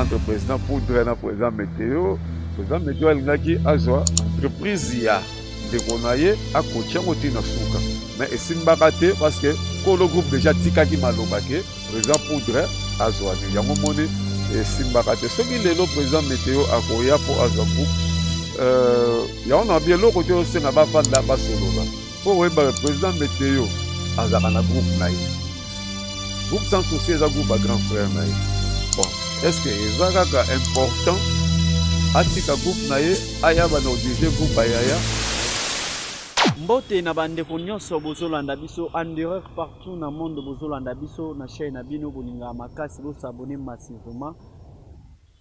entre président poudre na président météo président météo alingaki azwa entreprise ya ndeko na ye akotia yango ti na suka mais esimbaka te parce que kolo groupe déjà atikaki maloba ke Président Poudre azwa nini yango moni esimbaka te soki lelo président meteo akoya mpo azwa groupe euh, yango na bien eloko te osenga bafanda basolola mpo oyeba président meteo azalaka na groupe na ye groupe sans souci eza groupe ya grand frère na ye bon est ce que eza kaka important atika groupe na ye aya bana odirige groupe ayaya mbote na bandeko nyonso bozolanda biso andureur Tout na monde bozo landa biso na chaine na bino bolingaka makasi bo s'abonner massivement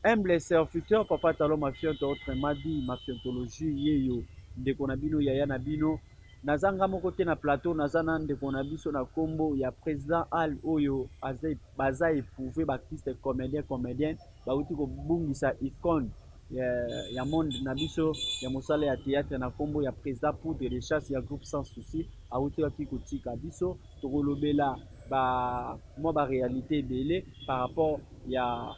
humble serviteur papa talon mafionto autrement dit mafiontologie yeyo ndeko na bino yaya na bino naza nga moko te na plateau naza na ndeko na biso na kombo ya president al oyo aza baza eprouve ba artiste comedien comedienne Bawuti kobungisa icone ya monde na biso ya mosala ya theatre na kombo ya President Poudre de chasse ya groupe sans soucis awuti wapi kotika biso. Tokolobela ba mwa ba realite ebele par rapport ya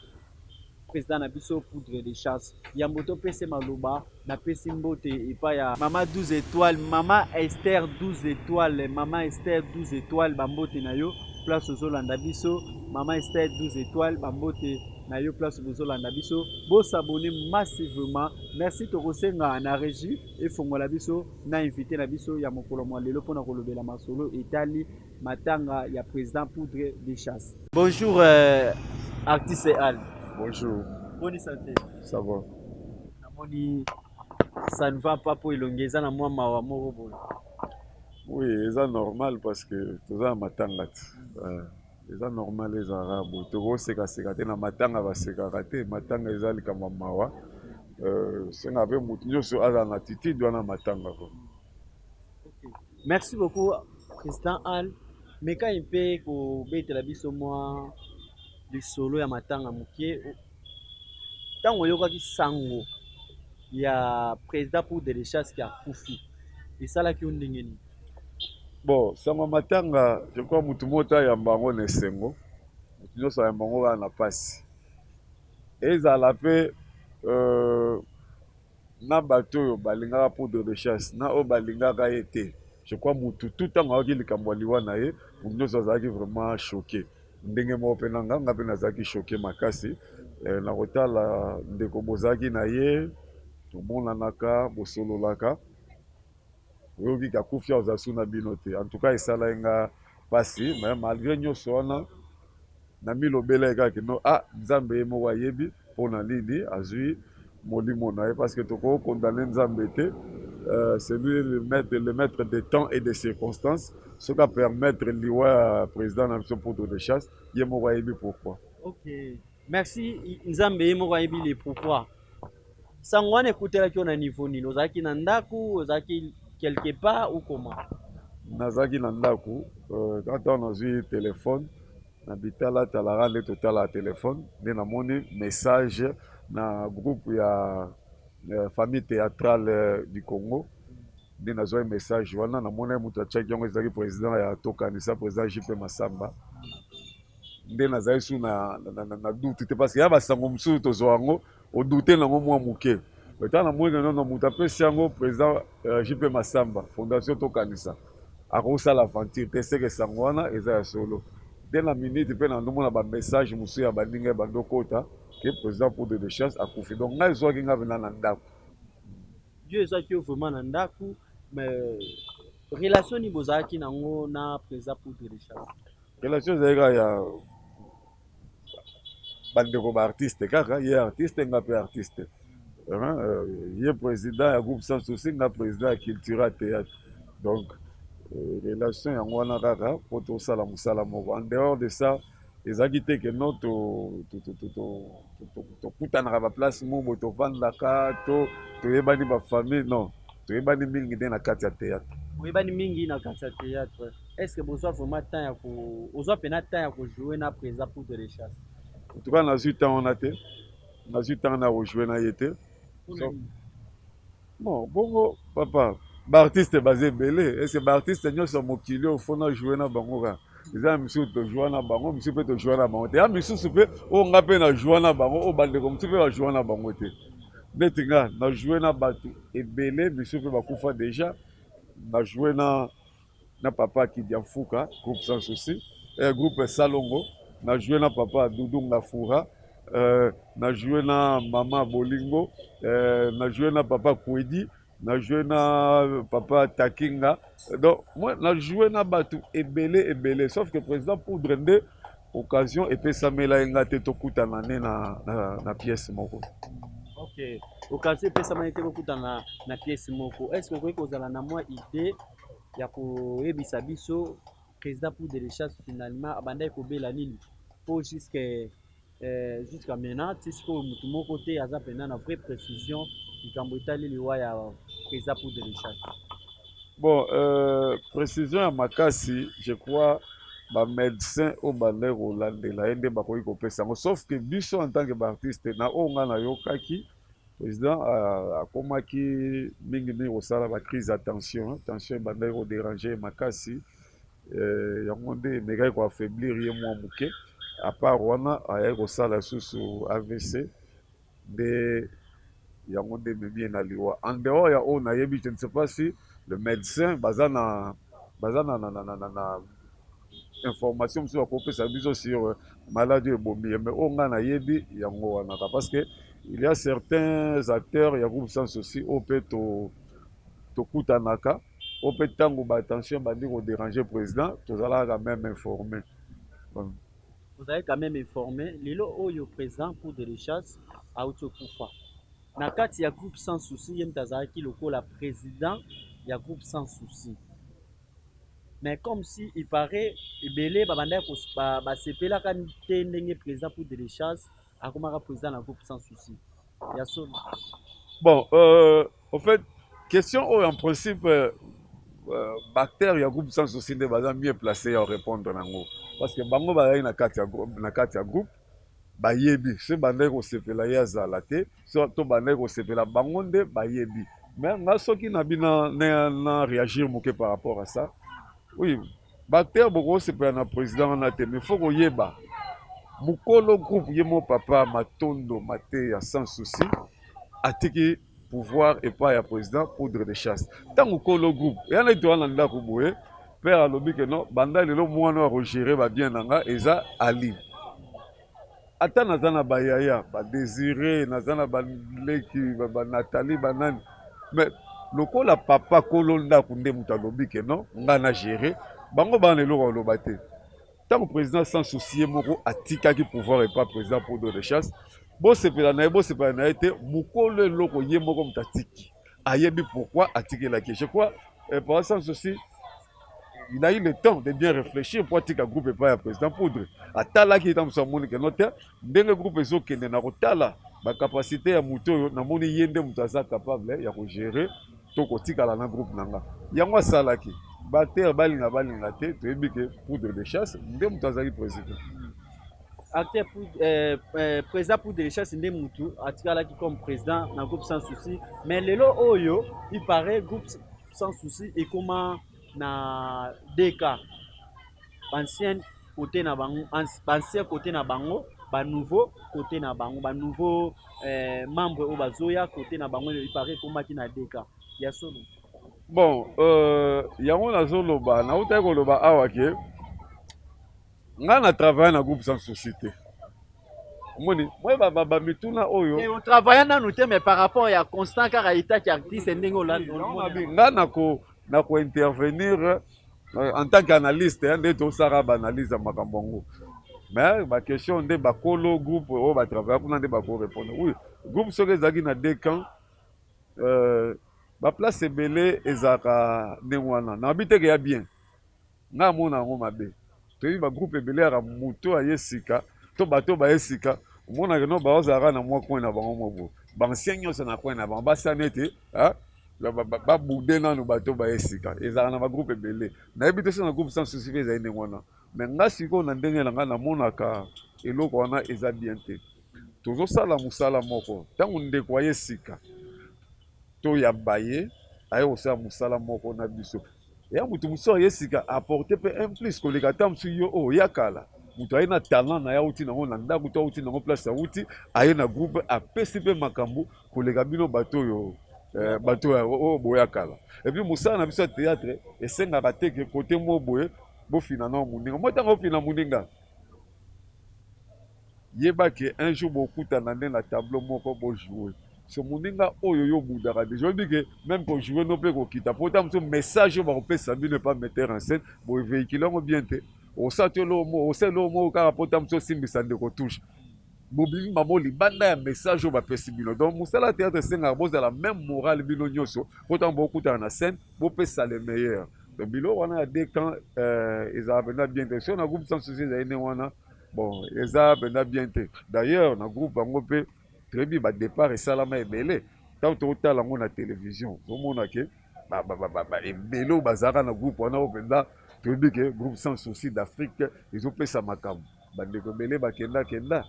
President na biso Poudre de chasse yambo topese maloba Na pesi mbote epai ya mama 12 etoiles, mama Esther 12 etoiles, mama Esther 12 etoiles ba mbote na yo place ozo landa biso, mama Esther 12 etoiles ba mbote na yo place bozo landa biso, bo s'abonner massivement, merci toko senga na regie efongola biso na invite na biso ya mokolo mua lelo pona kolobela masolo etali matanga ya president Poudre de chasse. Bonjour euh, artiste Al. Bonjour. Boni sante. Ça va. namoni ça ne va pas mpo elongi eza na mwa mawa moko boye oui eza normal parce que toza na matanga ti euh, eza normal ezalaka boye tokosekaseka te na matanga basekaka te matanga eza likambo ya mawa euh, senga mpe motu nyonso azala na attitude wana matanga ko merci beaucoup président al mekai mpe kobetela biso mwa lisolo ya matanga moke ntango ayokaki sango ya president pour delechas ke akufi esalaki yo ndenge nini bon sango ya matanga je crois motu moko te ayamba yango na esengo motu nyonso ayamba yango kaka na mpasi ezala mpe euh, na bato oyo balingaka poudre de chasse na oyo balingaka ye te je crois mutu tout ntango ayaki likambo ya liwa na ye moto nyonso azalaki vraiment choqué ndenge moko mpe na nga nga mpe nazalaki choqué makasi eh, na kotala ndeko bozalaki na ye tomonanaka bosololaka Oyoki ka kufia oza su na bino te en tout cas esalaki nga pasi mais malgre nionso wana na mi lobelaki kaka que non ah nzambe ye moko ayebi pona nini azui molimo na ye parce que toko condamner nzambe te euh, c'est lui le maître, le maître des temps et des circonstances soki a permettre liwa ya président na biso poudre de chasse ye moko ayebi pourquoi okay. Merci Nzambe ye moko ayebi le pourquoi. Sango wana ekotelaki yo na niveau nini? Ozalaki na ndako, ozalaki quelque part ou comment? Nazalaki na ndako, euh, quand on a vu téléphone na bitala talaka nde totala telefone nde namoni message na groupe ya euh, famille théâtrale euh, du congo nde nazwaki message wana namonaki moto atiaki yango ezalaki président ya tokanisa président jp masamba nde nazali su na, na, na, na, na doute te parce que ya basango mosusu tozwa yango odoute nango mwa moke ntango namoni nono moto apesi yango président uh, eh, jp masamba fondation tokanisa akosala aventure te seke sango wana eza ya solo te na minute mpe nandomona bamessage mosusu ya baninga ya bando kota ke président poudre de chasse akufi donc ngai ezwaki ngai mpena na ndako yo ezwaki yo vraiment na ndako mais relation nini bozalaki nango na président poudre de chasse Relation ezali kaka ya bandeko ba artiste kaka ye artiste nga mpe artiste euh, ye président ya groupe sans souci nga président ya cultura théâtre donc euh, relation yango wana kaka mpo tosala mosala moko en dehors de ça ezalaki te ke no tokutanaka baplace mobo tofandaka to toyebani bafamille non toyebani mingi nde na kati ya théâtre oyebani mingi na kati ya théâtre Est ce que bozwa vraiment temps ya ko ozwa pena temps ya ko jouer na President Poudre de chasse? En tout cas nazwi temps wana te, nazwi temps na ko jouer na ye te. So, bon bongo papa baartiste baza ebele ese baartiste nyonso ya mokili oyo fona joue na bango kaka eza ya misusu tojoua na bango misusu mpe tojoua na bango te ya misusu mpe oyo nga mpe najoua na bango oyo bandeko mosusu mpe bajoua na bango te neti nga najoue na bato ebele misusu mpe bakufa deja najoue na na papa Kidia Mfuka, groupe sans souci, eh, groupe Salongo, na joué na papa Doudou Ngafura, eh, na joué na mama Bolingo, eh, na joué na papa Kwedi, na joué na papa Takinga. Donc moi na joué na batu ebele ebele sauf que président Poudre nde occasion epesamela ye nga te tokutana ne na, na, na pièce moko. Okay. Occasion epesamaki te bokutana na pièce moko. Est-ce que okoki kozala na mwa idée ya koyebisa biso president pour de recherche finalement abandaki kobela nini po jusque euh, jusqu'à maintenant ti sikoyo motu moko te aza mpenza na vraie précision likambo etali liwa ya president pour de recherche bon euh, précision ya makasi je crois bamédecin oyo bandaki kolandela ye nde bakoki kopesa yango sauf que biso en tant que baartiste na oyo ngai nayokaki President akomaki mingi mingi kosala ba crise ya tension, tension ebandaki ko deranger makasi eh, yango nde emekaki ko affaiblir ye mwa moke. Apart wana ayaki kosala susu AVC nde yango nde ememi ye na liwa. En dehors ya oyo nayebi, je ne sais pas si le médecin baza na baza na, na, na, na, na, na information mosusu akopesa biso sur euh, maladi oyo ebomi ye mais oyo ngai nayebi yango wanaka parce que il y a certains acteurs ya groupe sans souci oyo mpe tokutanaka oyo mpe ntango batension ebandi koderange président tozalaka quand même informé tozalaki quand même informé lelo oyo président cour de richesse auti okufa na kati ya groupe sans souci ye moto azalaki lokola président ya groupe sans souci Mais comme si il parait ebele ba bandaki ko ba sepelaka te ndenge president poudre de chance akomaka president na groupe sans souci ya solo. Bon euh, au fait question oyo en principe euh, euh bactère ya groupe sans souci nde baza mieux placé ya répondre nango parce que bango bazali na kati ya na kati ya groupe bayebi se bandaki kosepela ye azala te so to bandaki kosepela bango nde bayebi mais nga soki na bina na, na réagir moke par rapport à ça oui bacteur bokosepela na président wana te mais faut koyeba mokolo groupe ye mo papa matondo mateya sans souci atiki pouvoir epai ya président poudre de chasse ntango kolo groupe eya na etowana na ndako boye père alobi ke non banda lelo mwana oyo akogere babien na nga eza ali ata naza na ba yaya ba desire naza na ba leki ba nathalie ba nani mais lokola papa kolo ndako nde moto alobi ke non ngai na gere bango bana eloko aloba te ntango président sans souci ye moko atikaki pouvoir epa président podo de chasse bosepela na ye bosepela na ye te mokolo eloko ye moko moto atiki ayebi pourquoi atikelaki je crois eh, papa sans souci il a eu le temps de bien réfléchir mpo atika groupe epai ya président poudre atalaki ye ntango amoni ke no te ndenge groupe ezokende na kotala bacapacité ya moto oyo namoni ye nde moto aza capable ya kogere to kotikala na groupe na nga yango asalaki baacteur balinga balinga te toyebi ke poudre de chasse nde moto azalaki président acteur euh, euh, président pour de richesse nde mutu atikalaki comme président na groupe sans souci mais lelo oyo il paraît groupe sans souci ekoma na DK bancienne côté na bango bancien côté na bango ba nouveau côté na bango ba nouveau eh, membre oyo bazoya côté na bango epare ekomaki na DK ya solo bon euh, yango nazoloba nautaki koloba awa ke Nga na travaille na groupe sans souci te. Omoni, moi ba ba, ba mituna oyo. Et on travaille nanu te mais par rapport ya constant kaka état ki artiste ndenge olandi. Nga na ko na ko intervenir euh, en tant qu'analyste hein, nde to sara ba analyse ya makambo yango. Mais ba question nde ba kolo groupe oyo ba travaille kuna nde ba ko répondre. Oui, groupe soki ezalaki na deux camps euh, ba place ebele ezalaka ndenge wana. Na biteke ya bien. Nga na mona yango mabe toyebi ba groupe ebele yaka mutu aye sika to bato baye sika omona ke no baoza yaka na mwa coin na bango mwa boye ba ancien nionso na coin na bango basa nete ba boude nanu bato baye sika ezalaka na ba groupe ebele nayebi te so na groupe sans souci pe ezali ndenge wana mais nga sikoyo na ndenge na nga na monaka eloko wana eza bien te tozosala mosala moko ntango ndeko aye sika to ya baye aye kosala mosala moko na biso ya moto mosusu aye sika aporte mpe un plus koleka ata mosusu yo oyo ya kala moto aye na talent na ye auti nango na ndako to auti nango place auti aye na groupe apesi mpe makambo koleka bino bato oyo eh, bato oyo oh, oh, boya kala epuis mosala na biso ya théâtre esengaka te ke kote moko boye bofina nao moninga mwa ntango ofina moninga Yeba que un jour bokutana nde na tableau moko bo jouer. So muninga oyo yo obudaka deja oyebi que meme ko jouer no pe kokita po ta mosusu message oyo bakopesa bino epa metteur en scène boye vehicule yango bien te osala to eloko moko osala eloko moko kaka po ta mosusu osimbisa ndeko touche bobimi bango libanda ya message oyo bapesi bino donc mosala ya théâtre esengaka bozala même morale bino nyonso po ntango bokutana na scène bopesa le meilleur donc biloko wana ya deux camp ezalaka mpenza bien te so na groupe sans souci ezali nde wana Bon, eza pena bien te. D'ailleurs, na groupe yango pe toyebi ba départ esalama ebele. Tango tokotala yango na television, tomona ke ba ba ba ba ba ebele oyo bazalaka na groupe wana oyo penza toyebi ke groupe sans souci d'Afrique ezopesa makambo. Ba ndeko ebele bakenda kenda,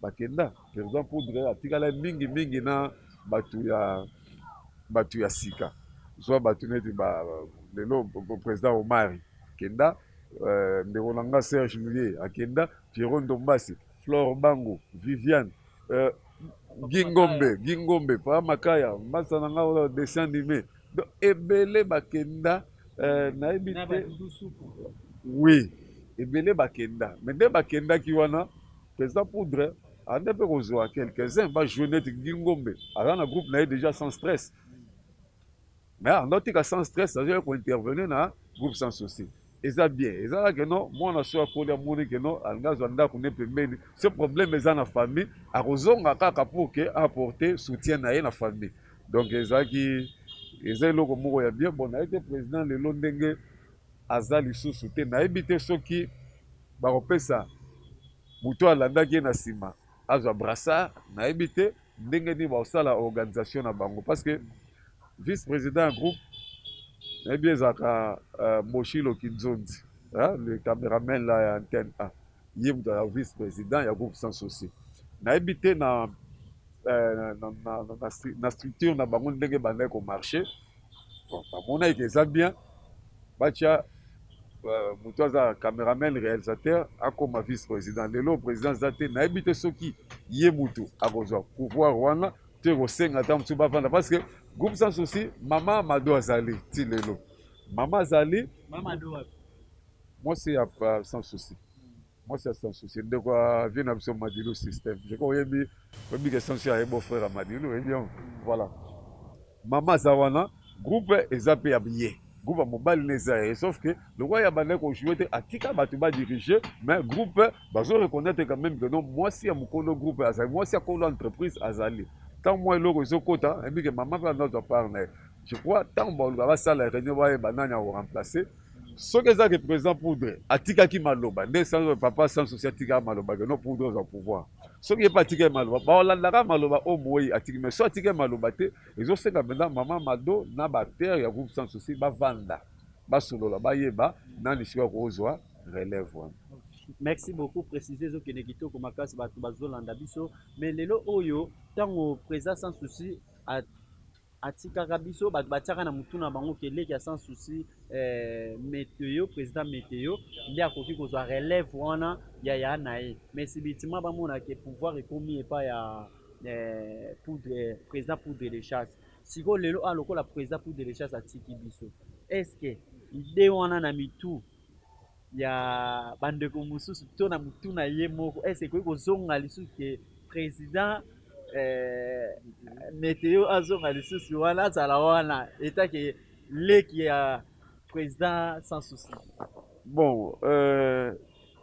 bakenda. President Poudre atikala mingi mingi na batu ya batu ya sika. Zwa batu neti ba lelo president Omari kenda. Euh, ndeko na nga Serge Muye akenda, Pierrot Ndombasi, Flore Bango, Viviane, euh, Gingombe, Gingombe, Pa Makaya, mbasa na nga oyo dessin animé. Donc ebele bakenda euh, nayebi te. Oui, ebele bakenda. Mais nde bakendaki wana, Pesa Poudre ande mpe kozwa quelques-uns ba jouer neti Gingombe. Aza na groupe na ye déjà sans stress. Mais Arnaud tika sans stress azo ya ko intervenir na groupe sans souci. Eza bien. Eza la que non mwana so akoli amoni que non alinga zwa ndako ne pembeni. Ce problème eza na famille akozonga kaka pour que apporter soutien na ye na famille. Donc ezaki eza eloko moko ya bien bon nayebi te président lelo ndenge aza lisusu te nayebi te soki bakopesa moto alandaki ye na nsima azwa brassard nayebi te ndenge nini bakosala organisation na bango parce que vice président ya groupe nayebi ezalaka uh, moshilo kinzonzi hein, le cameraman la ya antenne a ye moto ya vice président ya groupe sans souci nayebi te na, uh, na, na, na, na, na structure na bango ndenge bandaki komarche bon bamonaki ke eza bien batya euh, moto aza cameraman réalisateur akoma vice président lelo président aza te nayebi te soki ye motu akozwa pouvoir wana to ekosenga ata mosusu bavanda parce que groupe sans souci mama mado azali ti lelo mama azali mwasi ya sans souci Moi c'est sans souci ndeko ya vie na biso Madilu système je crois oyebi oyebi que sans souci aye beau frère ya Madilu oyebi yango voilà mama aza wana groupe eza mpe ya biye groupe ya mobali na eza ye sauf que lokola ya bandaki kojoue te atika bato badirige mais groupe bazo reconnaître quand même que non mwasi ya mokolo groupe azali mwasi ya kolo entreprise azali ntango mwa eloko ezokota ayebi ke mama mpe anazwa part na ye je crois ntango baluka basala réunion bayeba nani akoremplace soki eza ke président poudre atikaki maloba nde sans papa sans souci atika maloba ke no poudre ozwa pouvoir soki ye mpe atika maloba baolandaka maloba oyo moyi atiki mais so atika maloba te ezosenga mpenza mama mado na baacteur ya groupe sans souci bavanda basolola bayeba nani sikoyo akozwa relève wana merci beaucoup précise ezokende kitoko makasi bato bazolanda biso mais lelo oyo ntango président sans souci Atikaka biso batu batiaka na mutu na bango que leki ya sans souci eh, meteo president meteo nde akoki kozwa relève wana ya ya na ye mais subitement bamona que pouvoir ekomi epa ya eh, poudre eh, president poudre de chasse sikoyo lelo a lokola president poudre de chasse atiki biso est ce que idee wana na mitu ya bandeko mosusu to na mutu na ye moko ese ekoki kozonga lisusu ke president eh, meteo azonga lisusu wana azala wana etake leki ya president sans souci bon euh,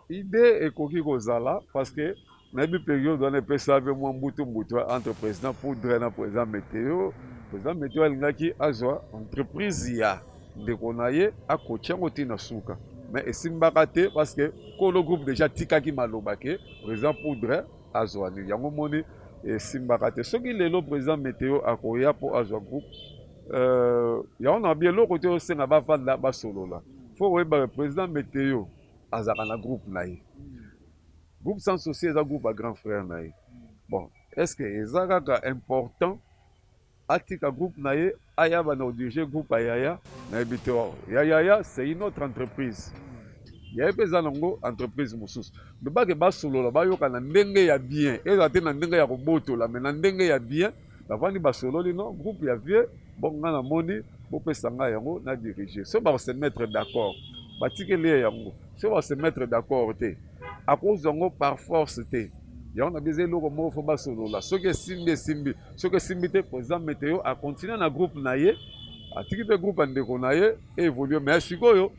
idee ekoki kozala parce que nayebi periode wana epesa mpe mwa mbutu mbutu entre président poudre na président meteo président meteo alingaki azwa entreprise ya ndeko na ye akoki yango ti na suka mais esimbaka te parce que kolo groupe déjà atikaki maloba ke président poudre azwa nini yango moni esimbaka te soki lelo président meteo akoya mpo azwa groupe euh, yango na bi eloko te osenga bafanda basolola fo oyeba président meteo azalaka na groupe na ye Groupe sans souci eza groupe ya grand frère na ye. Bon, est-ce que eza kaka important atika groupe na ye aya banda kodirige groupe ya yaya nayebi te wao ya yaya c'est une autre entreprise yaye mpe eza nango entreprise mosusu mibake basolola bayokana ndenge ya bien ezala te na ndenge ya kobotola me na ndenge ya bien bavandi basololi no groupe ya vieux bon nga na moni bopesa nga yango na dirige so ba se mettre d'accord batikeli ye yango so ba se mettre d'accord te akozwa yango par force te yango na biza eloko moko fo basolola soki esimbi esimbi soki esimbi te président meteo acontinue na groupe na ye atiki mpe groupe ya ndeko na ye evolue mais sikoyo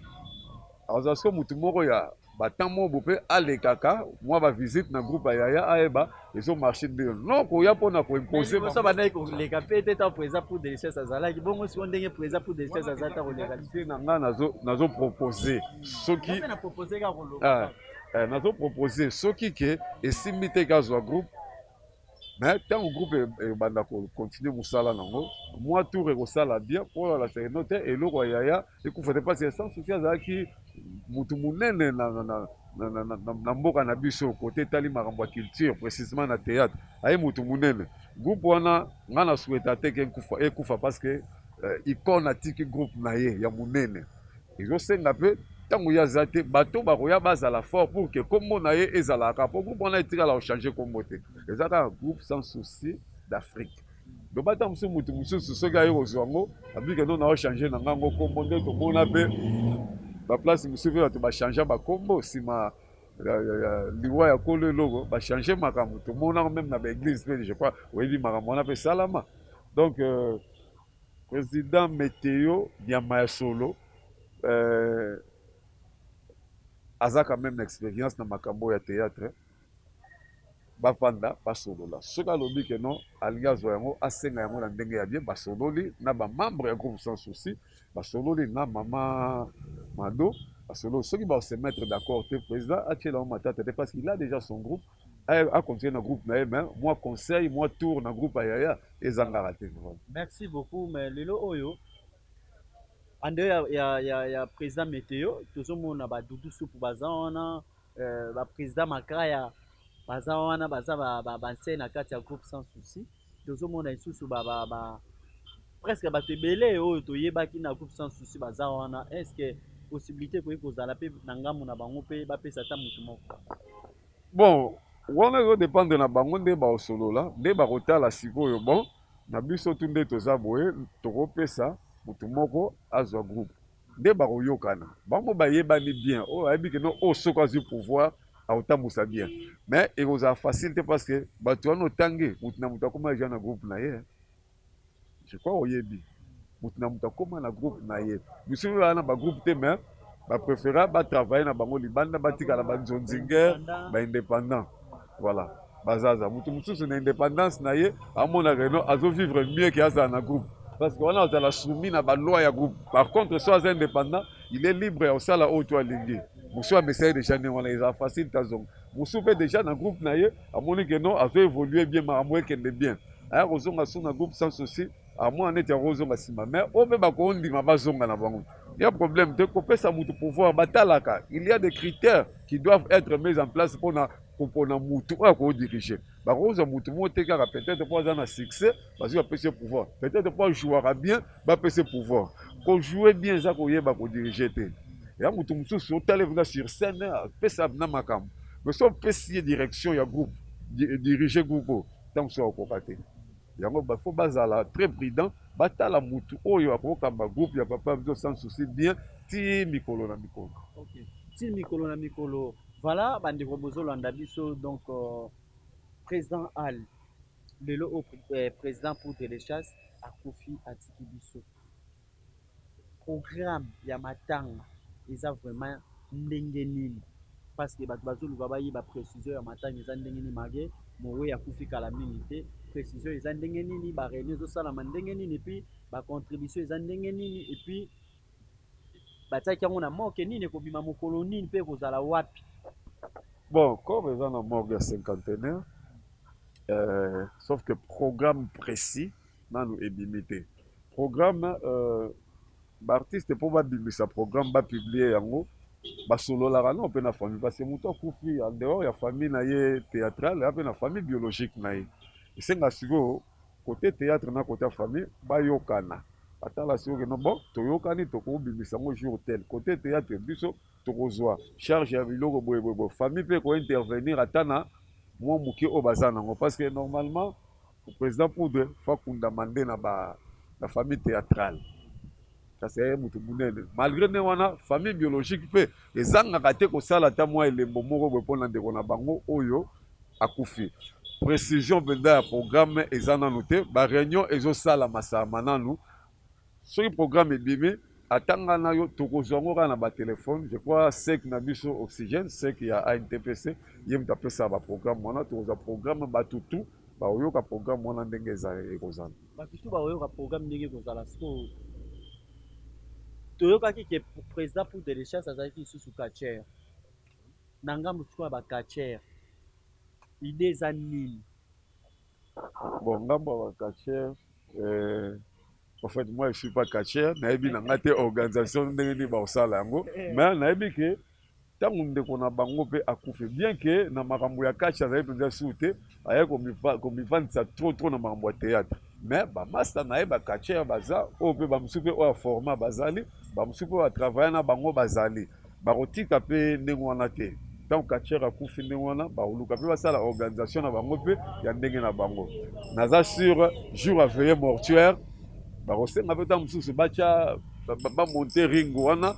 azwa siko motu moko ya Ba temps mobu pe alekaka mua ba visite na groupe ya yaya ayeba ezo marche nde non koya pona ko imposer ba. Boso bandaki koleka pe te tango president pour delicious azalaki bongo sikoyo ndenge president pour delicious aza te akoleka te. Te na nga nazo nazo proposer soki. Nga pe na proposer kaka koloba kaka. Eh nazo proposer soki ke esimbi te ke azua groupe mais ntango groupe ebanda kocontinue mosala nango mwa tour ekosala bien mpo na laserino te eloko ya yaya ekufa te mpasi sans souci azalaki motu monene na, na, na, na, na, na, na mboka na biso kote etali makambo ya culture précisement na théâtre aye motu monene groupe wana ngai na souhaita te ke ekufa parce que euh, icone atiki groupe na ye ya monene Ezo senga pe tango ye aza te bato bakoya bazala fort pour que kombo na ye ezala kaka po groupe wana etikala ko changer kombo te eza kaka groupe sans souci d'Afrique. Donc bata mosusu moto mosusu soki aye kozwa yango abike no nao changer na nga ngo kombo nde tomona pe ba place mosusu pe bato ba changer ba kombo sima liwa ya kolo eloko ba changer makambo tomonaka meme na ba eglise pe je crois oyebi makambo wana pe esalama donc euh, President meteo nyama ya solo euh aza quand meme na experience na makambo oyo ya theatre bafanda basolola soki alobi ke non alingi azwa yango asenga yango na ndenge ya bien basololi na bamembre ya groupe sans souci basololi na mama mado basololi soki baosemettre d'accord te président atyela yango matata te parce qu'il a déjà son groupe a continuer na groupe na ye mais mwa conseil mwa tour na groupe ya yaya ezangaka te merci beaucoup mais lelo oyo ande ya, ya, ya, ya président météo tozomona badudu supu baza wana euh, baprésident makaya baza wana baza banse na kati ya groupe sans souci tozomona lisusu ba, ba, ba, presque bato ebele oyo toyebaki na groupe sans souci baza wana est ce que possibilité ekoki kozala mpe na ngambo na bango mpe bapesa ata moto moko Bon wana ezo dependre na bango nde bao solola nde bako tala sikoyo bon na biso tout nde toza boye toko pesa mutu moko azwa groupe nde bako yokana bango ba yebani bien oyo ayebi ke no oyo soki azwi pouvoir ako tambusa bien mais eko zala facile te parce que batu wana otangi mutu na mutu akoma dejà na groupe na ye. Je crois oyebi mutu na mutu akoma na groupe na ye. Biso toza na ba groupe te mais ba prefera ba travailler na bango libanda batikala ba nzonzinger ba independant. Voilà. Bazaza mutu mosusu na independance na ye amona reno azo vivre mieux que azala na groupe. Parce que wana azala soumis na ba loi ya groupe. Par contre so aza independant, il est libre ya kosala oyo to alingi. Musu amesai deja ndenge wana eza facile tazonga. Musu pe deja na groupe na ye amoni que non azo evoluer bien makambo ekende bien. aya kozonga su na groupe sans souci amona neti akozonga nsima mais oyo mpe bakondima bazonga na bango ya problème te kopesa motu pouvoir batalaka il y a des critères qui doivent être mis en place mpona kopona motu oyo akodirige bakozwa motu moko te kaka peut-être mpo aza na succès bazwi bapesi ye pouvoir peut-être mpo ajouaka bien bapesi ye pouvoir kojoue bien eza koyeba kodirige te ya motu mosusu otali kuna sur scène apesa na makambo mais so opesi ye direction ya groupe dirige groupe oyo Tango mosusu akokoka te. Yango ba faut bazala très prudent, batala mutu oyo akokamba groupe ya papa biso sans souci bien tii mikolo na mikolo. Okay. Tii mikolo na mikolo. Voilà bandeko bozolanda biso donc euh, président Al lelo oyo euh, président pour de l'Echas akufi atiki biso. Programme ya matanga eza vraiment ndenge nini parce que batu bazo luka ba yeba precision ya matanga eza ndenge nini marquer moweyi akufi kala mingi te precision eza ndenge nini ba reunion ezo salama ndenge nini et puis ba contribution eza ndenge nini et puis ba tiaki yango na morgue nini eko bima mokolo nini pe eko zala wapi? Bon corps eza na morgue ya cinquantenaire euh, sauf que programme precis nanu ebimi te programme euh, ba artiste mpo babimisa programme bapublie yango basololaka nao mpe na famille parce que moto akufi en dehors ya famille na ye théâtrale ape na famille biologique na ye esenga sikoyo kote théâtre na kote ya famille bayokana atala sikoyo keno bon toyokani tokobimisa yango jour tel kote théâtre biso tokozwa charge ya biloko boye boye boye famille mpe ekointervenir ata na mwa moke oyo baza nango parce que normalement President poudre faut akundama nde na ba na famille theatrale kasi aye moto monene malgré nde wana famille biologique mpe ezangaka te kosala ata mwa elembo moko boye mpo na ndeko na bango oyo akufi précision mpenza ya programme eza nanu te bareunion ezosalama salama nanu Soki programme ebimi ata nga na yo tokozua ngo kaka na ba telephone je crois sec na biso oxygène sec ya intpc ye moto apesaka ba programme wana tokozua programme batu tout bakoyoka programme wana ndenge eza ekozala batu tout bakoyoka programme ndenge ekozala sikoyo toyokaki ke president pour de chasse azalaki lisusu catcher na ngambo sikoyo ya ba catcher idee eza nini Bon ngambo ya ba catcheur euh, en fait moi je suis pas catcheur, nayebi na nga te organisation ndenge nini bakosala yango, mais nayebi ke ntango ndeko na bango mpe akufi bien ke na makambo ya catch azali mpenza sur te, ayaki komifa- komifandisa trop trop na makambo ya théâtre mais bamasta na ye bacatcheur baza oyo mpe bamosusu mpe oyo aforma bazali bamosusu mpe batravaille na bango bazali Bakotika mpe ndenge wana te. Ntango catcheur akufi ndenge wana, bakoluka mpe basala organisation na bango mpe ya ndenge na bango. Naza sur jour ya veille mortuaire, bakosenga mpe ntango mosusu batya bamonte ring wana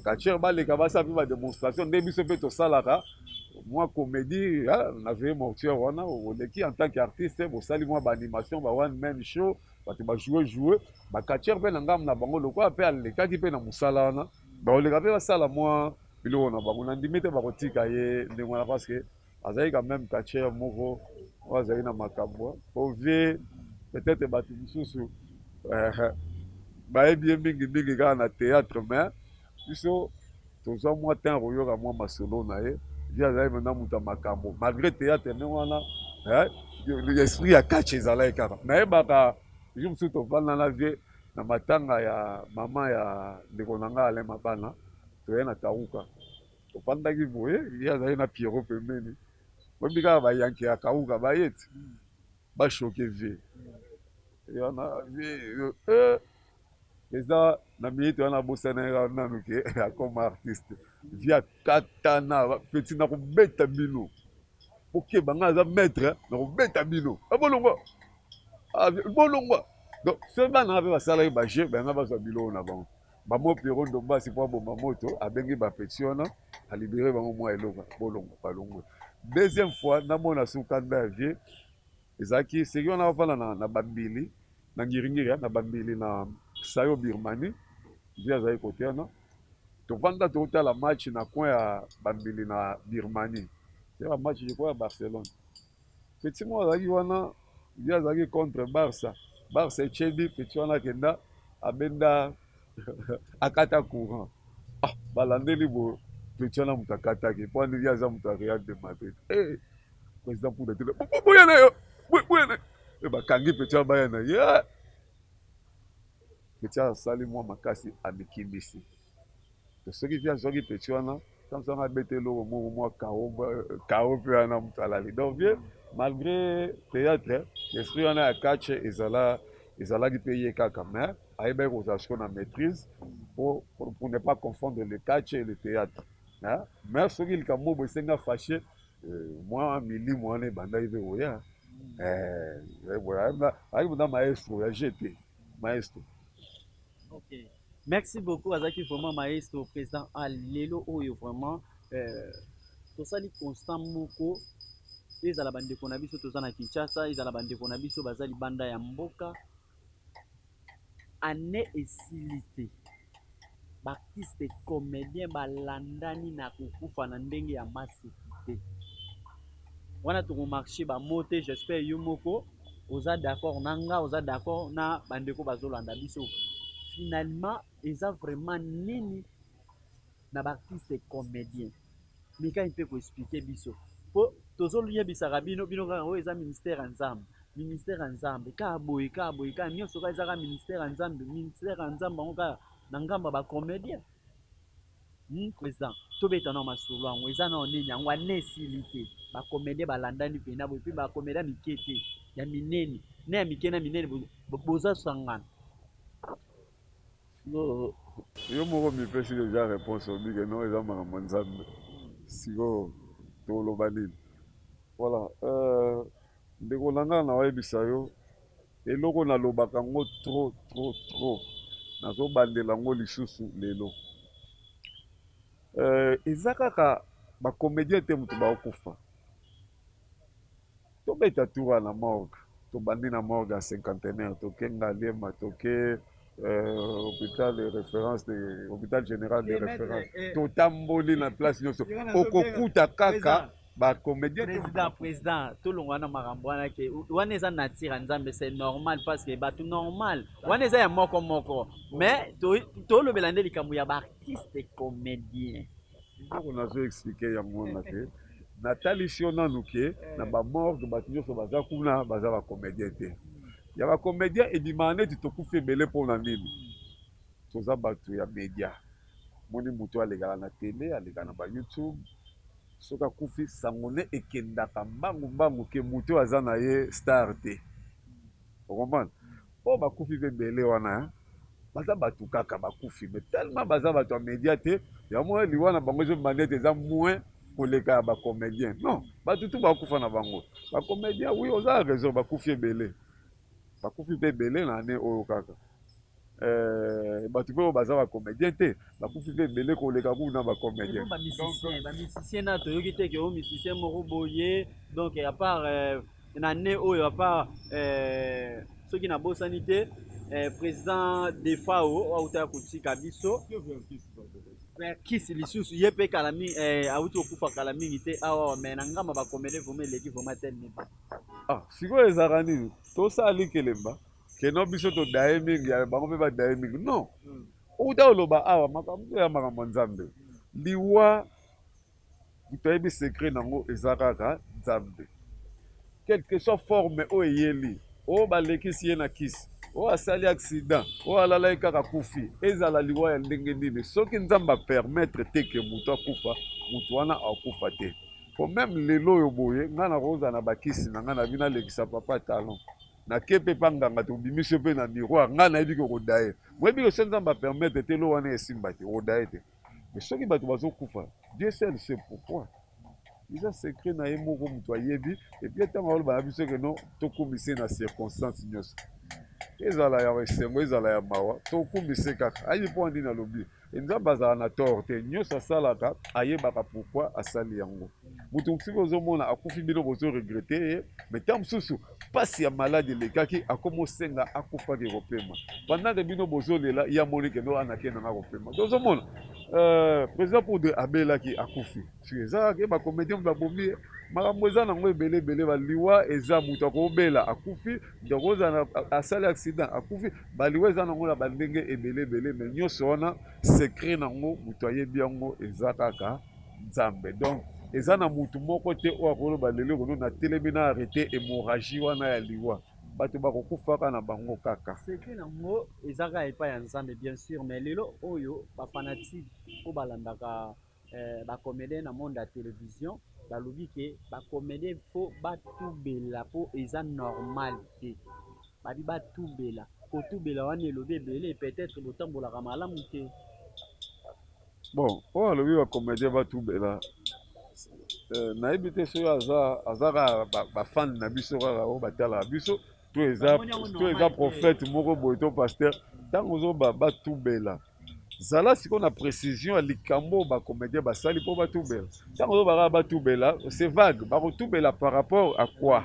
catcheur baleka basala mpe bademonstration nde biso mpe tosalaka mwa comédie na veille mortuaire wana oleki en tant qu'artiste bosali mwa baanimation ba one man show bato bajoue joue bacatcheur mpe na ngambo na bango lokola mpe alekaki mpe na mosala wana Bakoleka pe basala mua biloko na bango, nandimi te bakotika ye ndenge wana parce que azali quand meme catcheur moko oyo azali na makambo po vie peut-etre bato mosusu bayebi ye mingi mingi kaka na theatre mais biso tozwa mwa temps ya koyoka mwa masolo na ye vie azali mpenza moto ya makambo malgré theatre ndenge wana esprit ya catch ezalaki kaka nayebaka jour mosusu tofanda na vie na matanga ya maman ya ndeko na nga Alain Mabana toye na Kawuka tofandaki boye ye azali na Pierrot pembeni boyebi kaka ba yanke ya Kawuka baye ti ba choque vie ye wana vie eh, eza na minute wana abosana ye nanu ke akoma artiste vie akatana petit nakobeta bino bokeba ngai aza maître na kobeta bino ah, bolongwa ah, bolongwa donc soki bana nga mpe basalaki bajeu bayanga bazwa biloko na bango bamo piero ndombasi mpo aboma moto abengi bapeti wana alibere bango mwa eloko bolongwa balongwe deuxième fois namona sukanda ya vie ezalaki seki wana afanda na, na babili Na Ngiringiria, na Bambili, na Sayo, Birmanie, vie azalaki kotiana. Tovanda totala match na coin ya Bambili na Birmanie. Tya ba match je crois ya Barcelone. Petit moko azalaki wana, vie azalaki contre Barça. Barça etie but, petit wana akenda abenda akata courant. Ah, balandeli boye petit wana moto akataki mpo wana vie aza moto ya Real de Madrid. Eh, President Kuda te. Boya na yo. Boya na yo. Bakangi petit ya baya na ye. Ah! Petit asali mwa makasi amikimisi. To soki via zoki petit wana comme ça abete eloko moko mwa kao kao mpe wana moto alali donc vie malgré théâtre esprit wana ya catch ezala ezalaki mpe ye kaka mais ayebaki kozala siko na maîtrise pour, pour, pour ne pas confondre le catch et le théâtre hein? mais soki likambo boye esenga fâche Mwa milimo wana ebandaki mpe koya ayaki mpenza maestro ya jeu te maestro okay. merci beaucoup azalaki vraiment maestro président a lelo oyo vraiment euh, tosali constant moko ezala bandeko na biso toza na kinshasa ezala bandeko na biso baza libanda ya mboka Annee esili te b'artiste comedien ba landani na ko kufa na ndenge ya maseki te wana toko marche ba mots te j'espère yo moko oza d'accord na nga oza d'accord na ba ndeko bazo landa biso finalement eza vraiment nini na ba artistes comediens mika mpe ko expliquer biso po tozo yebisaka bino bino kaka oyo eza ministère ya nzambe ministère ya nzambe kaka boye kaka boye kaka nionso kaka eza kaka ministère ya nzambe ministère ya nzambe yango kaka na ngambo ya ba comediens hmm, président tobeta nao masolo yango eza nao nini yango ane esili te ba comediens balandani mpena boye mpe ba comediens mike te ya minene na ya mike na minene boza sangana Yo moko omipesi dejà reponse olobi ke non eza makambo ya Nzambe sikoyo toloba nini? Voilà ndeko na nga naoyebisa yo eloko nalobaka ngo trop trop trop nazo bandela ngo lisusu lelo eza kaka ba comedien te mutu baokufa Tobeta tour wana na morgue, tobandi na morgue ya cinquantenaire toke Ngaliema toke euh, hôpital de référence de hôpital général de référence eh. totamboli na place nyonso okokuta kaka bacomédien président président tolongwa na makambo wana ke wana eza nature ya nzambe c'est normal parce que bato normal wana eza ya moko moko mais tolobela nde likambo ya baartiste comédien Biloko nazo expliquer yango wana te natalisi yo nanu ke na bamorgue bato nyonso baza kuna baza bacomédien te ya bacomédien ebimaka neti tokufi ebele mpo na nini toza bato ya média moni moto alekaka na tele aleka na bayoutube soki akufi sango ne ekendaka mbangu mbangu ke moto oyo aza na ye star te o comprendre po bakufi pe ebele wana hein baza batu kaka bakufi mais tellement baza batu ya media te yango wana liwa na bango ezo manete eza moins koleka ya ba comedien non batu tu bakufa na bango ba comedien oui oza raison bakufi ebele bakufi pe ebele na annee oyo kaka Euh, bato mpe oyo baza bacomédien te bakufi mpe ebele koleka kuku na bacomédien bamisicien na toyoki te ke o misicien moko boye donc à part euh, na ne oyo à part euh, soki nabosani te président defao oyo auta ya kotika biso verkis lisusu ye mpe kala mingi auti kokufa kala mingi te awawa mai na ngamba bakomele vraimen eleki vraimen tel neba ah sikoyo ezalaka nini tosali kelemba que non biso to daye mingi ya bango mpe ba daye mingi non outa oloba awa makambo ya makambo ya nzambe liwa moto ayebi secret nango eza kaka nzambe quelque soit forme oyo eyeli oyo balekisi ye na kisi oyo asali accident oyo alalaki kaka kufi ezala liwa ya ndenge nini soki nzambe apermettre te ke moto akufa moto wana akufa te po meme lelo oyo boye ngai nakozala na bakisi na ngai na bino alekisa papa talon na ke mpe pa nganga tobimisi yo mpe na miroir ngai nayebi ke okodaye moyebi ke se nzambe apermettre te lo wana esimba te okodaye te mais soki bato bazokufa dieu seul se pourquoi eza secret na ye moko moto ayebi epui ntango aloba na biso keno tokumise na circonstance nyonso ezala ya esengo ezala ya mawa tokumise kaka ayebi mpo ya nini alobi Nzambe azala na tort te nionso asalaka ayebaka pourquoi asali yango moto mosusu ozomona akufi bino bozo regrete ye mais ntango mosusu mpasi ya maladi elekaki akomi osenga akufaki kopema pandake bino bozolela ye amonike no anake nanga kopema tozomona euh, président poudre abelaki akufi Eza kaka ke ba comedien mutu abomi ye makambo eza na yango ebele ebele ba liwa eza mutu akobela akufi mutu akozala asali accident akufi ba liwa eza na yango na ba ndenge ebele ebele mais nyonso wana secret na yango mutu ayebi yango eza kaka nzambe donc eza na mutu moko te oyo akoloba lelo ekono na telemi na arrete hémorragie wana ya liwa bato bakokufaka na bango kaka secret na yango eza kaka epai ya nzambe bien sur mais lelo oyo ba fanatique oyo balandaka eh, ba comedien na monde ya television balobi ke ba comedien fo batubela po eza normal te babi batubela kotubela wana elobi ebele peut-être botambolaka malamu te bon oyo alobi ba comedien batubela eh, nayebi te soki aza aza kaka bafane na biso kaka oyo batalaka biso to eza to eza prophète moko boye to pasteur ntango ozoba batubela zala sikoyo na précision ya likambo oyo bacomédien basali mpo batubela ntango ozoba kaka batubela c'est vague bakotubela par rapport à quoi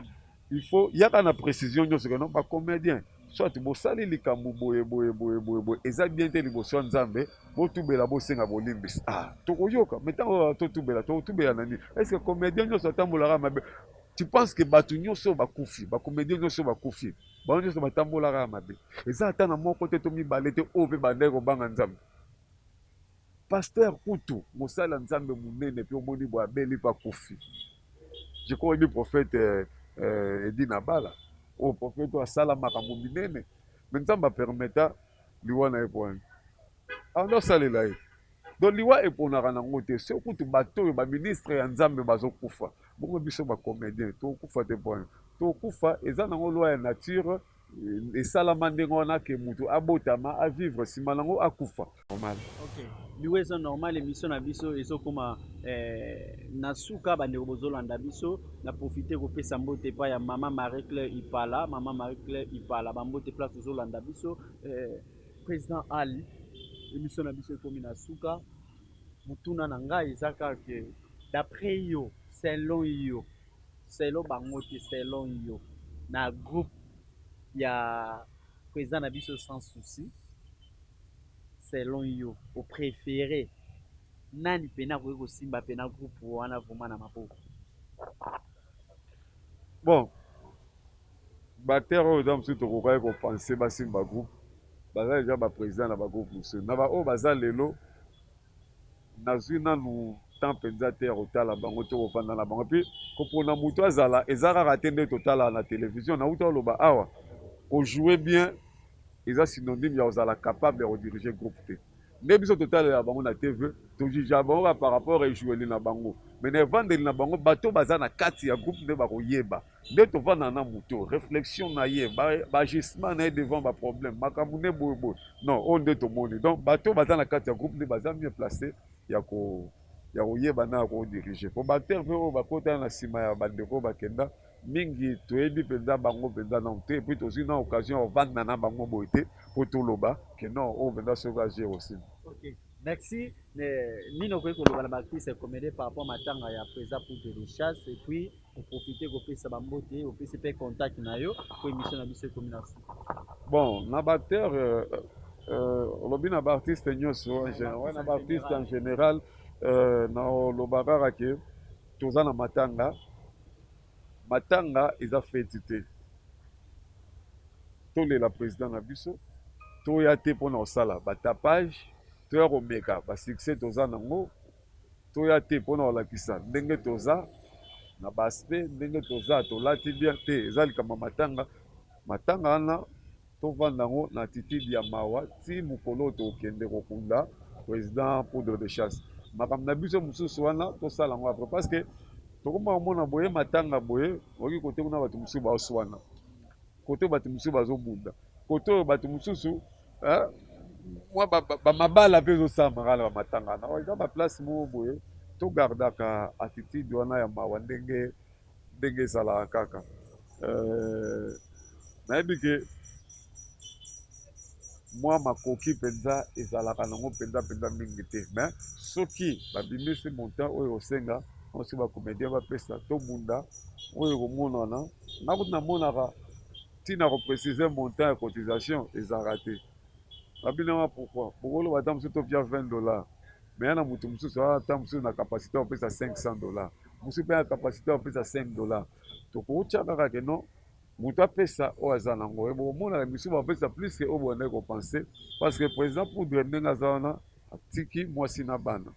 il faut yaka na précision nyonso keno bacomédien soit bosali likambo boye boye boye boye boye eza bien te liboso ya nzambe botubela bosenga bolimbisi ah tokoyoka me ntango totubela tokotubela na nini est ce que comédien nyonso atambolaka mabe Tu penses que bato nyonso bakufi, ba comedien nyonso bakufi, bango nyonso batambolaka ya mabe? Eza ata na moko te to mibale te oyo mpe bandaki kobanga Nzambe. Pasteur kutu mosali ya Nzambe monene mpe omoni boye abeli mpe akufi. Je crois oyebi prophète euh, euh, Edi Nabala oyo prophète oyo asala makambo minene, mais Nzambe apermeta liwa na ye mpo wana. Alors ah, salela ye. Donc liwa eponaka na ngo te soki kutu bato oyo ba ministre ya nzambe bazo kufa bongo biso ba comedien toko kufa te pona toko kufa eza na ngo loi ya nature eh, esalama ndenge wana ke mutu abotama a vivre sima na ngo akufa normal okay. liwa eza normal emission na biso ezokoma eh, na suka bandeko bozolanda biso na profite kopesa mbote epai ya mama marie claire ipala mama marie claire ipala bambote place ozolanda biso eh, President Ali, emission na biso ekomi na suka. Motuna na ngai eza kaka d'après yo, selon yo, selon bango te, selon yo, na groupe ya president na biso sans souci, selon yo, au préféré nani pena akoki kosimba pena groupe wana vraiment na maboko? Bon, Batteur oyo eza mususu tokokaki ko penser basimba ba groupe baza dejà ba president na ba groupe mususu na ba oyo baza lelo nazui nanu temps penza te ya kotala bango to kofanda na bango puis kopona mutu azala eza kaka te nde totalaka na television nawuta oloba awa ko jouer bien eza synonyme ya kozala capable ya ko diriger groupe te nde biso totalela bango na TV to jugeaka bango par rapport ejoueli na bango mais na evandeli na bango bato baza na kati ya groupe nde bakoyeba nde tovanda na moto reflexion na ye baagissement na ye devant baproblème makambo nde boyeboye non oyo nde tomoni donc bato oyo baza na kati ya groupe nde baza mieux place ya ko ya koyeba na ya kodirige mpo baacteur mpe oyo bakotana na nsima ya bandeko oyo bakenda mingi toyebi mpenza bango mpenza nano te epuis tozwi na occasion ya kovanda na bango boye te mpo toloba ke non oyo mpenza soki aje osi okay. Merci. Mais, nino kwe koloba na ba artistes comédie par rapport matanga ya Preza Poudre de Chasse et puis Oprofite kopesa ba mbote, opesi pe contact na yo po emission na biso ekomi na suka. Bon, na ba acteurs euh, euh, olobi na ba artistes nyonso, en gen- ouais, na ba artistes en general euh, na oloba kaka ke toza na matanga. Matanga eza feti te. Tolela president na biso, toya te mpo na kosala ba tapage, toya komeka ba succès toza nango. Toya te pona kolakisa ndenge toza na ba aspect ndenge toza tolati bien te eza likambo ya matanga matanga wana tovanda yango na attitude ya mawa ti mokolo oyo tokende kokunda president poudre de chasse makambo na biso mosusu wana tosala yango apres parce que tokoma komona boye matanga boye okoki kote kuna bato mosusu baoswana kote bato mosusu bazobunda kote oyo bato mosusu hein mwa ba, ba, ba mabala mpe ezosalamaka na bamatanga na eza baplace moko boye togardaka attitude wana ya mawa ndenge ndenge ezalaka kaka euh, nayebi ke mwa makoki mpenza ezalaka nango mpenza mpenza mingi te mais soki babimisi montant oyo osenga osi bacomédien bapesa tobunda oyo ekomonana nakuti namonaka Tina ya ko preciser montant ya cotisation ezalaka te. Ba binama pourquoi? Boko loba ata mosusu to tia 20 dollars mais eza na mutu mosusu aza ata mosusu na capacite ya kopesa 500 dollars, mosusu mpe na capacite ya kopesa 5 dollars. Tokoki tia kaka que non moto apesa oyo aza na yango. Boko mona misusu ba pesa plus que oyo bobandaki ko penser parce que president Poudre ndenge aza wana atiki mwasi na bana.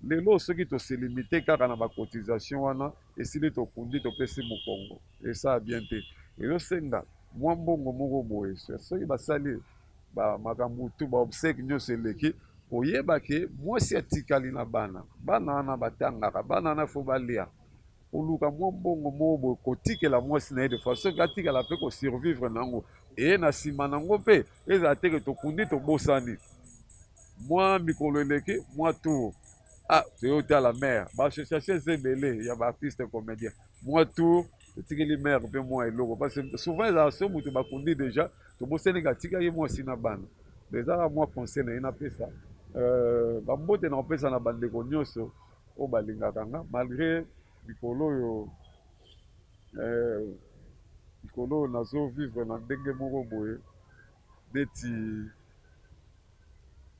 Lelo soki to se limiter kaka na ba cotisations wana, esili tokundi topesi mokongo esaa bien te ezosenga mwa mbongo moko boye soki basali ba makambo tu ba obsèque nyonso eleki koyeba ke mwasi atikali na bana bana wana batangaka bana wana fo balia koluka mwa mbongo moko boye kotikela mwasi na ye de façon ke atikala mpe kosurvivre na yango eye na nsima na yango mpe ezala teke tokundi tobosani mwa mikolo eleki mwa tour Ah, toyo tala mère ba association eza ebele ya ba artiste comédien mwa tour totikeli mère mpe mwa eloko parce que souvent ezala so moto bakundi déjà tobosani ka atika ye mwasi na bana donc ezaka mwa conseil na ye napesa euh, bambote na kopesa na bandeko nyonso oyo balingaka nga malgré mikolo oyo euh, mikolo oyo nazo vivre na ndenge moko boye neti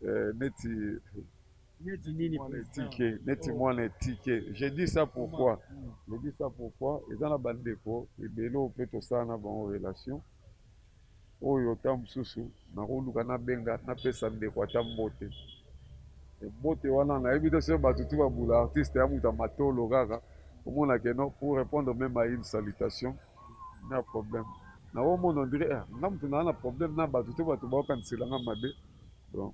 euh, neti etike neti oh. mwana etike je dis ça pourquoi je dis ça pourquoi eza na bandeko ebele oyo mpe tosala na bango relation oyo ntango mosusu nakoluka nabenga napesa ndeko ata mbote mbote wana nayebi te soki bato tu babula artiste ya moto ya matolo kaka omona keno pour répondre même à une salutation na problème na omona ondire eh, nga moto naa na problème na bato to bato baokanisela nga mabe donc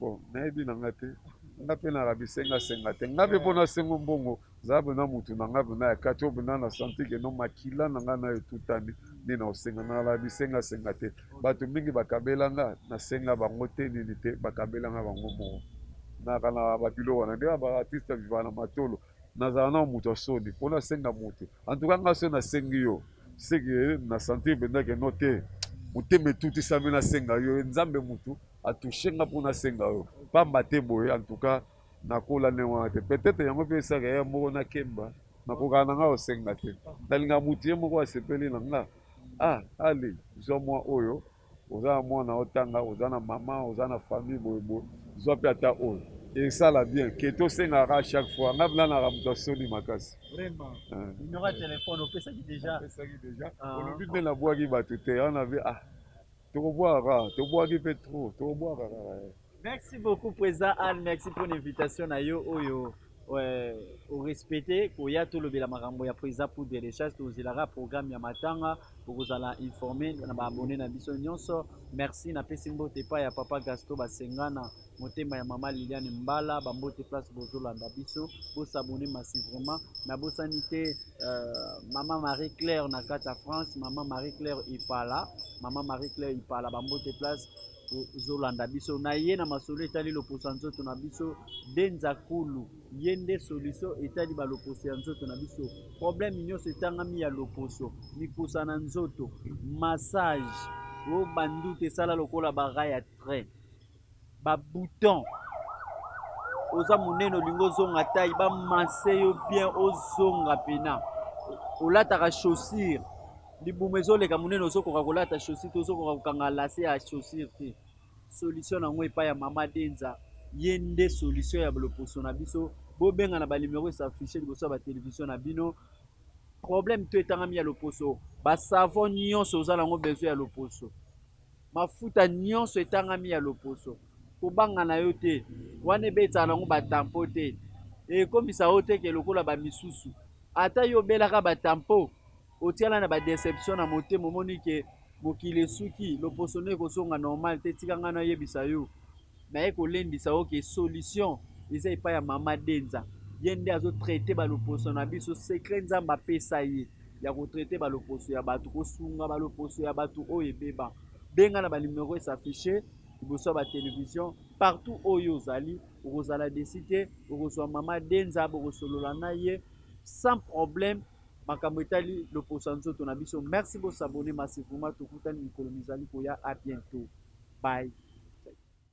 bon nayebi na ngai te nga mpe naka bisenga senga te nga mpe mpo nasengo mbongo zala mpena motu na ngai mpena ya kati oyo mpena na santi keno makila na ngai nayo etutani nde na osenga naka na bisenga senga te bato mingi bakabela nga nasenga bango te nini te bakabela nga bango moko naka na babilo wana nde ba artiste vivaka na matolo nazala nao moto ya soni mpo nasenga moto antuka nga so nasengi yo seke na sentir mpenza ke no te motema etutisami nasenga yo nzambe motu atushe nga mpo nasenga yo pamba te boye antuka nakola ndenge wana te petete yango mpe esaka ya moko nakemba nakokaka na ngai osenga te nalingaka motu ye moko asepeli na nga ah ali zwa mwa oyo oza na mwana otanga oza na mama oza na famille boye boye zwa mpe ata oyo esala bien ke tosengaka chaque fois nga blanaka moto ya soni makasi opesaki deja ah. olobi nde nabwaki bato te wana be ah tokobwaka kaka tobwaki mpe trop tokobwaka kaka eh. Merci beaucoup Président Anne, merci pour l'invitation na yo oyo euh, au respecter koya tolobela makambo ya Président pour des recherches tozelaka programme ya matanga bokozala informé na baabonné na biso nyonso. Merci na pesi mbote epai ya Papa Gasto Basengana motema ya Mama Liliane Mbala bambote place bozolanda biso bosabone masi vraiment nabosani te euh, Mama Marie Claire na kati ya France Mama Marie Claire Ipala Mama Marie Claire Ipala bambote place Bozolanda biso na ye na masolo etali loposo ya nzoto na biso. Denza Kulu ye nde solution etali ba loposo ya nzoto na biso. Problème nyonso etangami ya loposo, mikusa na nzoto, massage, o ba ndutu esala lokola ba rails ya train, ba boutons, oza monene olingi ozonga taille, ba masser yo bien ozonga pena, olataka chaussure Libumu ezo leka munene ozo koka kolata chaussure te ozo koka kokanga lace ya chaussure te solution na ngo epai ya mama Denza ye nde solution ya loposo na biso bobenga na ba numero e s'afficher liboso ya ba television na bino problème to etangami ya loposo ba savon nyonso oza nango besoin ya loposo mafuta nyonso etangami ya loposo kobanga na yo te wana ebetaka nango ba tampo te ekomisa yo te ke lokola ba misusu ata yo obelaka ba tampo Otiana na ba deception na motema omoni que mokili esuki loposo nayo ekozonga normal te tika ngai nayebisa yo naye kolendisa yo que solution eza epai ya mama denza ye nde azo traite ba loposo na biso secret nzambe apesa ye ya ko traite ba loposo ya batu kosunga ba loposo ya batu oyo ebeba benga na ba numero e s'affiche liboso ya ba television partout oyo ozali okozala desi te okozwa mama denza bokosolola na ye sans problème makambo etali loposo ya nzoto na biso merci bo s'abonner ma se vraiment tokutani mikolo mizali koya a bientot bye.